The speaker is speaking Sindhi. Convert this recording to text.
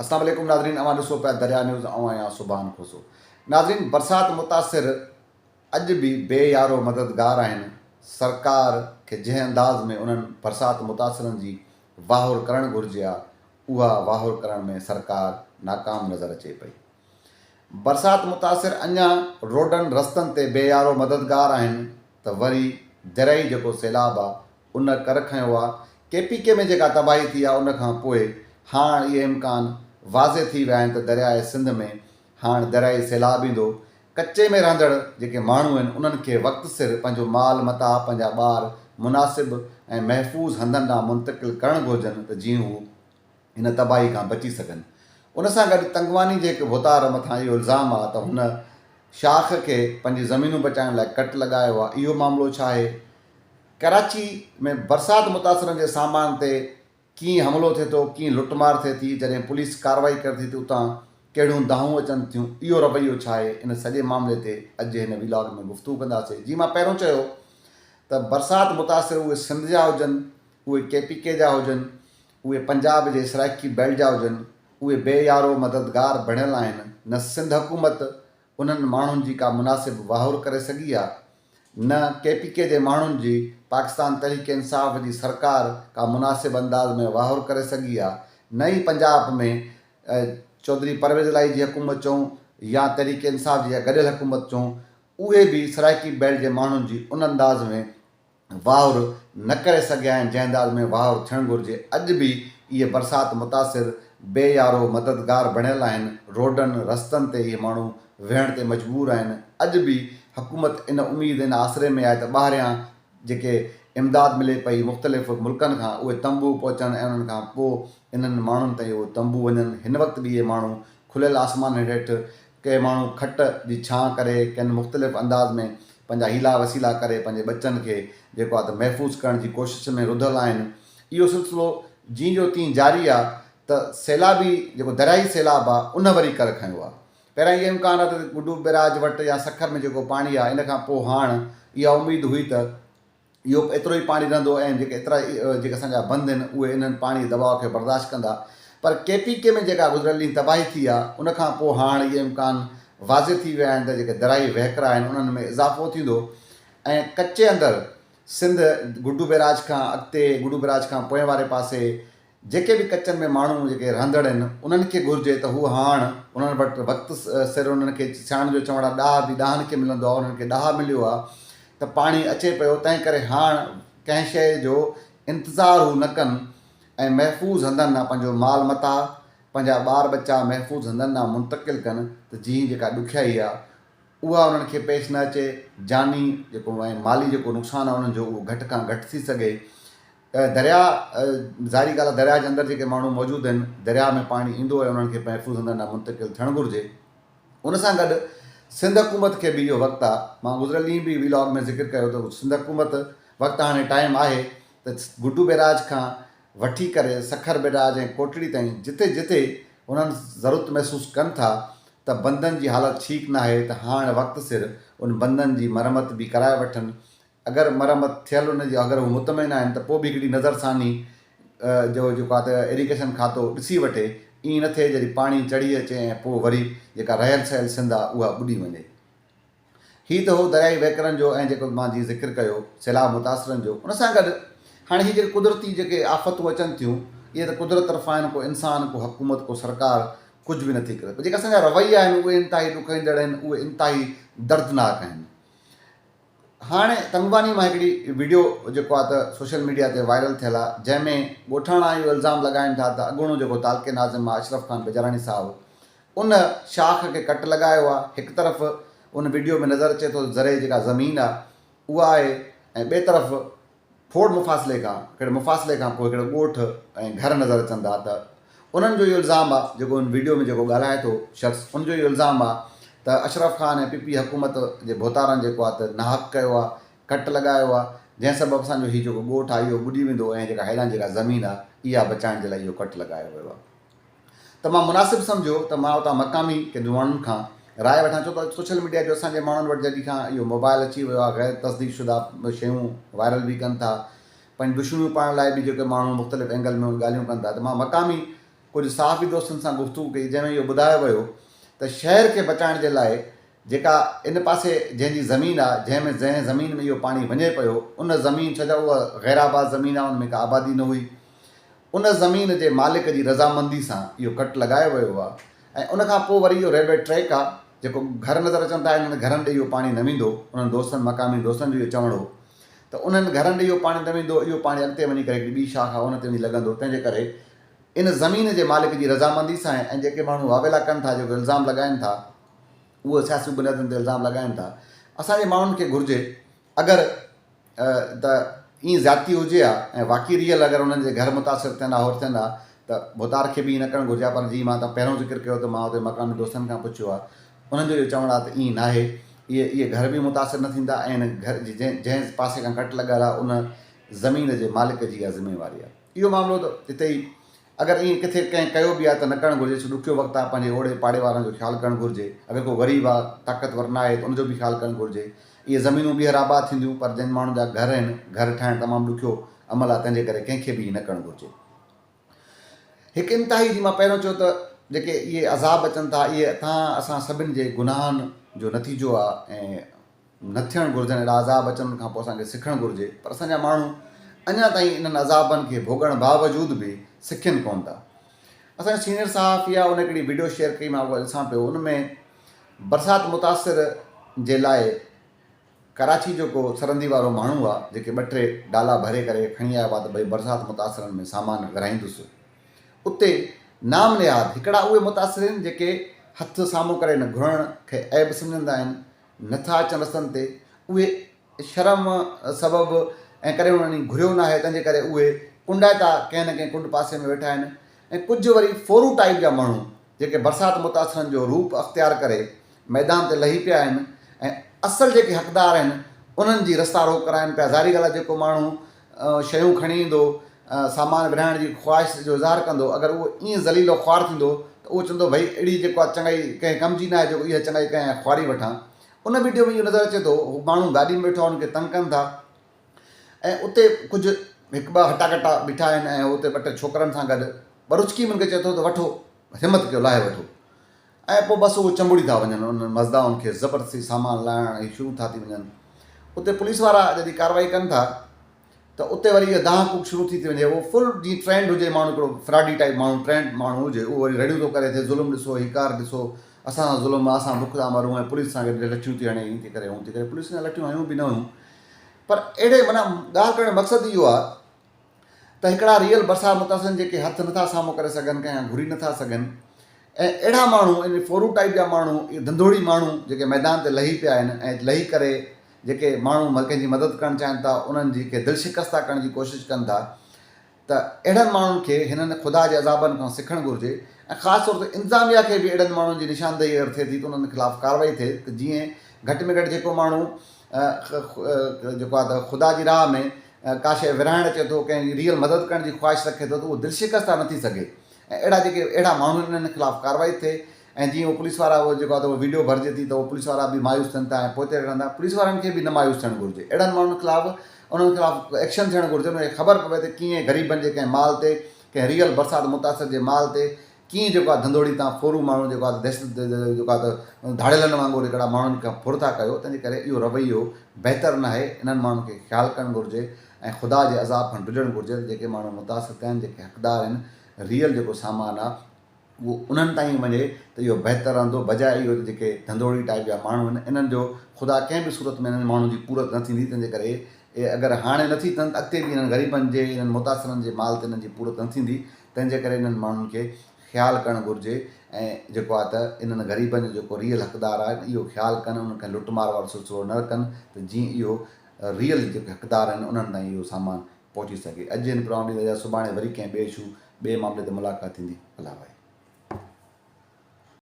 السلام عليڪم ناظرين اوهان ڏسو پيا دريا نيوز آئون آهيان سبحان کوسو ناظرين برسات متاثر اڄ به بي يارو مددگار آهن سرڪار کي جنهن انداز ۾ انهن برسات متاثرن جي واهر ڪرڻ گهرجي ها اها واهر ڪرڻ ۾ سرڪار ناڪام نظر اچي پئي برسات متاثر اڃا روڊن رستن تي بي يارو مددگار آهن ته وري دريائي جيڪو سيلاب آ ان ڪر کنيو آ، ڪي پي ڪي ۾ جيڪا تباهي ٿي آ ان کان پوء هاڻ اهي امڪان واضح ٿي ويا آهن ته درياء سنڌ ۾ هاڻ دريائي سيلاب ايندو، ڪچي ۾ رهندڙ جيڪي ماڻهو آهن انهن کي وقت سر پنهنجو مال متاع پنهنجا ٻار مناسب ۽ محفوظ هنڌن ڏانهن منتقل ڪرڻ گهرجن ته جيئن هو ان تباهي کان بچي سگهن. ان سان گڏ تنگواني جي هڪ ڀوتار مٿان اهو الزام آ ته هن شاخ کي پنهنجي زمينون بچائڻ لاء ڪٽ لڳايو آ، اهو معاملو ڇا آهي؟ ڪراچي ۾ برسات متاثرن جي سامان تي ڪيئن حملو ٿئي ٿو، ڪيئن لٽ مار ٿئي ٿي، جڏهن پوليس ڪارروائي ڪري ٿي ته اتان ڪهڙيون دانهون اچن ٿيون، اهو رويو ڇا آهي؟ ان سڄي معاملي تي اڄ جي هن ويلاگ ۾ گفتگو ڪنداسين. جيئن مان پهريون چيو ته برسات متاثر اهي سنڌ جا هجن اهي ڪي پي ڪي جا هجن، اهي پنجاب جي سرائيڪي بيلٽ جا هجن، اهي بي يارو مددگار بڻيل آهن، نه سنڌ حڪومت انهن ماڻهن جي ڪا مناسب واهر ڪري سگهي آ، نه ڪي پي ڪي جي ماڻهن جي پاڪستان تحريڪ انصاف جي سرڪار ڪا مناسب انداز ۾ واهر ڪري سگهي آ، نه ئي پنجاب ۾ چوڌري پرويز الاهي جي حڪومت چئون يا تحريڪ انصاف جي اها گڏيل حڪومت چئون اهي به سرائيڪي بيلٽ جي ماڻهن جي ان انداز ۾ واهر نه ڪري سگهيا آهن جنهن انداز ۾ واهر ٿيڻ گهرجي اڄ به اهي برسات متاثر بي يارو مددگار بڻيل آهن روڊن رستن تي اهي ماڻهو ويهڻ تي مجبور آهن اڄ به حڪومت ان اميد ان آسري ۾ آهي ته ٻاهريان جيڪي امداد ملي پئي مختلف ملڪن کان اهي تنبو پهچڻ ۽ انهن کان پوء انهن ماڻهن تائين اهو تنبو وڃن هن وقت به اهي ماڻهو کليل آسمانن هيٺ ڪي ماڻهو کٽ جي ڇانء ڪري ڪن مختلف انداز ۾ پنهنجا حيلا وسيلا ڪري پنهنجي ٻچن کي جيڪو آ ته محفوظ ڪرڻ جي ڪوشش ۾ رڌل آهن. اهو سلسلو جيئن جو تيئن جاري آ ته سيلابي جيڪو درياهي سيلاب آ ان وري ڪر کنيو آ. پهريان اهو امڪان آ ته گڊو بئراج وٽ يا سکر ۾ جيڪو پاڻي آ ان کان پوء هاڻ اها اميد هئي ته اهو ايترو ئي پاڻي رهندو ۽ جيڪي ايترا جيڪي اسان جا بند آهن اهي انهن پاڻي دٻاء کي برداشت ڪندا پر ڪي پي ڪي ۾ جيڪا گذريل ڏينهن تباهي ٿي آهي ان کان پوء هاڻ اهي امڪان واضح ٿي ويا آهن ته جيڪي درائي وهڪرا آهن انهن ۾ اضافو ٿيندو ۽ ڪچي اندر سنڌ گڊو بيراج کان اڳتي گڊو بيراج کان پوئين واري پاسي جيڪي به ڪچن ۾ ماڻهو جيڪي رهندڙ هن انهن کي گهرجي ته هو هاڻ انهن وٽ وقت سر انهن کي سياڻن جو چوڻ آ ڏاهه به ڏاهن کي ملندو آ انهن کي ڏاهه مليو آ ته پاڻي اچي پيو تنهن ڪري هاڻ ڪنهن شيء جو انتظار هو نه ڪن ۽ محفوظ هنڌن ڏانهن پنهنجو مال متاع پنهنجا ٻار ٻچا محفوظ هنڌن ڏانهن منتقل ڪن ته جيئن جيڪا ڏکيائي آ اها انهن کي پيش نه اچي جاني جيڪو ۽ مالي جيڪو نقصان آ انهن جو اهو گهٽ کان گهٽ ٿي سگهي ۽ درياء، ظاهري ڳالهه آهي درياء جي اندر جيڪي ماڻهو موجود آهن، درياء ۾ پاڻي ايندو ۽ انهن کي محفوظ هنڌن ڏانهن منتقل ٿيڻ گهرجي. ان سان گڏ سنڌ حڪومت کي به اهو وقت آهي، مان گذريل ڏينهن به وي لاگ ۾ ذڪر ڪيو ته سنڌ حڪومت وقت هاڻي ٽائيم آهي ته گڊو بيراج کان وٺي ڪري سکر بيراج ۽ ڪوٽڙي تائين جتي جتي انهن ضرورت محسوس ڪن ٿا ته بندن جي حالت ٺيڪ ناهي ته هاڻ وقت سر ان بندن جي مرمت به ڪرائي وٺن ۽ اگر مرمت ٿيل ان جي اگر هو مطمئن آهن ته پوء به هڪڙي نظر ثاني جو جيڪو آهي ته ايريگيشن کاتو ڏسي وٺي ائين نه ٿئي جڏهن پاڻي چڙهي اچي ۽ پوء وري جيڪا رهيل سهيل سنڌ آهي اها ٻڏي وڃي. هي ته هو دريائي وهڪرن جو ۽ جيڪو مان جيئن ذڪر ڪيو سيلاب متاثرن جو ان سان گڏ هاڻي هي جيڪي قدرتي جيڪي آفتون اچن ٿيون اهي ته قدرت طرفان آهن ڪو انسان ڪو حڪومت ڪو سرڪار ڪجهه به نٿي ڪري پر جيڪي اسان جا رويا آهن اهي انتهائي ڏکئيندڙ آهن اهي انتهائي دردناڪ آهن هاڻي تنگباني مان هڪڙي وڊيو جيڪو آ ته سوشل ميڊيا تي وائرل ٿيل آ جنهن ۾ ڳوٺاڻا اهو الزام لڳائين ٿا ته اڳوڻو جيڪو تعلقي ناظم آ اشرف خان بجاراڻي صاحب ان شاخ کي ڪٽ لڳايو آ هڪ طرف ان وڊيو ۾ نظر اچي ٿو ته زرعي جيڪا زمين آ اها آهي ۽ ٻئي طرف ڦوڙ مفاصلي کان ڪھڙي مفاصلي کان پوء ڪھڙا ڳوٺ ۽ گھر نظر اچن ٿا ته انھن جو اھو الزام آ جيڪو ان وڊيو ۾ جيڪو ڳالھائي ٿو شخص ان جو اھو الزام آ ته اشرف خان ۽ پي پي حڪومت جي ڀوتارن جيڪو آ ته ناحق ڪيو آ ڪٽ لڳايو آ جنھن سبب اسان جو ھي جيڪو ڳوٺ آ اھو ٻڏي ويندو ۽ جيڪا ھيلان جيڪا زمين آ اھا بچائڻ جي لاء اھو ڪٽ لڳايو ويو آ. ته مان مناسب سمجهيو ته مان اتان مقامي ڪن جون ماڻهن کان راء وٺان ڇو ته سوشل ميڊيا جو اسان جي ماڻهن وٽ جڏهن کان اهو موبائل اچي ويو آهي غير تصديق شده شيون وائرل به ڪن ٿا پنهنجون دشمنيون پاڙڻ لاء به جيڪي ماڻهو مختلف اينگل ۾ ڳالهيون ڪن ٿا ته مان مقامي ڪجهه صحافي دوستن سان گفتگو ڪئي جنهن ۾ اهو ٻڌايو ويو ته شهر کي بچائڻ جي لاء جيڪا ان پاسي جنهن جي زمين آهي جنهن ۾ جنهن زمين ۾ اهو پاڻي وڃي پيو ان زمين ڇو جو اها غيرآباد زمين آهي ان ۾ ڪا آبادي نه هئي ان زمين جي مالڪ جي رضامندي سان اهو ڪٽ لڳايو ويو آهي ۽ ان کان پوء وري اهو ريلوي ٽريڪ آهي جيڪو گهر نظر اچن ٿا انهن گهرن ڏي اهو پاڻي نه ويندو انهن دوستن مقامي دوستن جو اهو چوڻ هو ته انهن گهرن ڏي اهو پاڻي نه ويندو اهو پاڻي اڳتي وڃي ڪري هڪڙي ٻي شاخ آهي ان تي وڃي لڳندو تنهن جي ڪري ان زمين جي مالڪ جي رضامندي سان ۽ جيڪي ماڻهو واويلا ڪن ٿا جيڪو الزام لڳائين ٿا اهو سياسي بنيادن تي الزام لڳائين ٿا اسان جي ماڻهن کي گهرجي اگر ته ائين زيادتي هجي ها ۽ واقعي ريل اگر انهن جي گهر متاثر ٿين ها هور ٿين ها ته ڀوتار کي به ائين نه ڪرڻ گهرجي ها پر جيئن مان تان پهريون ذڪر ڪيو ته مان اتي مقامي دوستن کان پڇيو ها انهن جو اهو چوڻ آهي ته ائين ناهي اهي اهي گهر به متاثر نه ٿيندا ۽ ان گهر جي جنهن جنهن پاسي کان ڪٽ لڳل آهي ان زمين جي مالڪ جي اها ذميواري آهي اهو معاملو ته اتي ئي اگر ائين ڪٿي ڪنهن ڪيو به آهي ته نه ڪرڻ گهرجي ڇو ڏکيو وقت آهي پنهنجي اوڙي پاڙي وارن جو خيال ڪرڻ گهرجي اگر ڪو غريب آهي طاقتور نه آهي ته ان جو به خيال ڪرڻ گهرجي اهي زمينون ٻيهر آباد ٿينديون پر جن ماڻهن جا گهر هن گهر ٺاهڻ تمام ڏکيو عمل آهي تنهن جي ڪري ڪنهن کي به ائين نه ڪرڻ گهرجي هڪ انتهائي جي مان پهريون چيو ته جيڪي اهي عذاب اچن ٿا اهي اتان اسان سڀن جي گناهن جو نتيجو آهي ۽ نه ٿيڻ گهرجن، اهڙا عذاب اچن کان پوء اسان کي سکڻ گهرجي پر اسان جا ماڻهو اڃا تائين انهن عذابن کي ڀوڳڻ باوجود به سکين ڪونه ٿا. اسان جو سينيئر صحافي آ ان هڪڙي وڊيو شيئر ڪئي مان اها ڏسان پيو ان ۾ برسات متاثر جي لاء ڪراچي جو ڪو سرندي وارو ماڻهو آ جيڪي ٻه ٽي ڊالا ڀري ڪري کڻي آيو آ ته ڀئي برسات متاثرن ۾ سامان ورهائيندس اتي نام نهاد هڪڙا اهي متاثرين جيڪي هٿ سامهون ڪري نه گهرڻ کي عيب سمجهندا آهن نٿا اچن رستن تي اهي شرم سبب ۽ ڪڏهن انهن هي گهريو ناهي تنهن جي ڪري اهي ڪنڊائتا ڪنهن نه ڪنهن ڪنڊ پاسي ۾ ويٺا آهن ۽ ڪجهه وري ڦورو ٽائيپ جا ماڻهو جيڪي برسات متاثرن جو روپ اختيار ڪري ميدان تي لهي پيا آهن ۽ اصل جيڪي حقدار آهن انهن جي رستا روڪ ڪرائن پيا ظاهري ڳالهه آهي جيڪو ماڻهو شيون کڻي ايندو، سامان ورهائڻ جي خواهش جو اظهار ڪندو، اگر اهو ائين ذليل و خوار ٿيندو ته اهو چوندو ڀئي اهڙي جيڪو آ چڱائي ڪنهن ڪم جي ناهي جيڪو اها چڱائي ڪنهن خواري وٺان. ان وڊيو ۾ اهو نظر اچي ٿو هو ماڻهو گاڏي ۾ ويٺو آهن انکي تنگ ڪن ٿا ۽ اتي ڪجهه هڪ ٻه هٽا ڪٽا بيٺا آهن ۽ هو اتي ٻه ٽي ڇوڪرن سان گڏ ٻروچڪي ۾ انکي چئي ٿو ته وٺو همت ڪيو لاهي وٺو. ۽ پوء بس اهو چنبڙي ٿا وڃن انهن مزدائن کي زبردستي سامان لاهڻ هي شروع ٿا ٿي وڃن اتي پوليس وارا جڏهن ڪارروائي ڪن ٿا ته اتي وري اها دانهن ڪوڪ شروع ٿي ٿي وڃي اهو فل جيئن ٽرينڊ هجي ماڻهو هڪڙو فراڊي ٽائيپ ماڻهو ٽرينڊ ماڻهو هجي اهو وري رڙيون ٿو ڪري ٿي ظلم ڏسو هي ڪار ڏسو اسان سان ظلم آهي اسان بک ٿا مرون ۽ پوليس سان گڏ لٺيون ٿي هڻي هي ٿي ڪري هون ٿي ڪري پوليس سان لٺيون هيون به نه هيون پر اهڙي معنيٰ ڳالهه ڪرڻ جو مقصد اهو آهي ته هڪڙا ريل ڀرسان متاثرن جيڪي هٿ نٿا سامهون ڪري سگهن ڪا يا گهري نٿا سگهن ۽ اهڙا ماڻهو يعني فورو ٽائيپ جا ماڻهو اهي ڌنڌوڙي ماڻهو جيڪي ميدان تي لهي پيا آهن ۽ لهي ڪري جيڪي ماڻهو ڪنهن جي مدد ڪرڻ چاهن ٿا انهن جي کي دل شڪسته ڪرڻ جي ڪوشش ڪن ٿا ته اهڙن ماڻهن کي هنن خدا جي عذابن کان سکڻ گهرجي ۽ خاص طور تي انتظاميا کي به اهڙن ماڻهن جي نشاندهي اگر ٿئي ٿي ته انهن خلاف ڪارروائي ٿئي ته جيئن گهٽ ۾ گهٽ جيڪو ماڻهو ۽ جيڪو آهي ته خدا جي راهه ۾ ڪا شيء ورهائڻ اچي ٿو، ڪنهن جي ريل مدد ڪرڻ جي خواهش رکي ٿو ته اهو دلشڪست ٿا نه ٿي سگهي ۽ اهڙا جيڪي اهڙا ماڻهو آهن انهن خلاف ڪارروائي ٿئي ۽ جيئن اهو پوليس وارا اهو جيڪو آهي ته اهو وڊيو ڀرجي ٿي ته اهو پوليس وارا به مايوس ٿين ٿا ۽ پوئتي رهن ٿا پوليس وارن کي به نه مايوس ٿيڻ گهرجي اهڙن ماڻهن خلاف انهن خلاف ايڪشن ٿيڻ گهرجي انهن کي خبر پوي ته ڪيئن غريبن جي ڪنهن مال تي ڪنهن ريل برسات متاثر جي مال تي ڪيئن جيڪو آ ڌنڌوڙي تان ڦورو ماڻهو جيڪو آ ته دهشت جيڪو آ ته ڌاڙيلن وانگر هڪڙا ماڻهن کان ڦر ٿا ڪيو تنهنجي ڪري اهو رويو بهتر ناهي انهن ماڻهن کي خيال ڪرڻ گهرجي ۽ خدا جي عذاب کان ڊڄڻ گهرجي ته جيڪي ماڻهو متاثر ٿيا آهن جيڪي حقدار آهن ريئل جيڪو سامان آ اهو انهن تائين وڃي ته اهو بهتر رهندو بجاء اهو ته جيڪي ڌنڌوڙي ٽائيپ جا ماڻهو آهن انهن جو خدا ڪنهن به صورت ۾ انهن ماڻهن جي پورت نه ٿيندي تنهنجي ڪري اهي اگر هاڻي نٿي ٿين ته اڳتي به انهن غريبن جي انهن متاثرن جي مال تي انهن جي پورت نه ٿيندي تنهن جي ڪري انهن ماڻهن کي خيال ڪرڻ گهرجي ۽ جيڪو آهي ته انهن غريبن جو جيڪو ريئل حقدار آهي اهو خيال ڪن انهن کان لٽ مار وارو سلسلو نه رکن ته جيئن اهو ريئل جيڪي حقدار آهن انهن تائين اهو سامان پهچي سگهي اڄ هن پروگرام ڏينهن تي اجازت سڀاڻي وري ڪنهن ٻئي اشو ٻئي معاملي تي ملاقات ٿيندي الله ڀائي.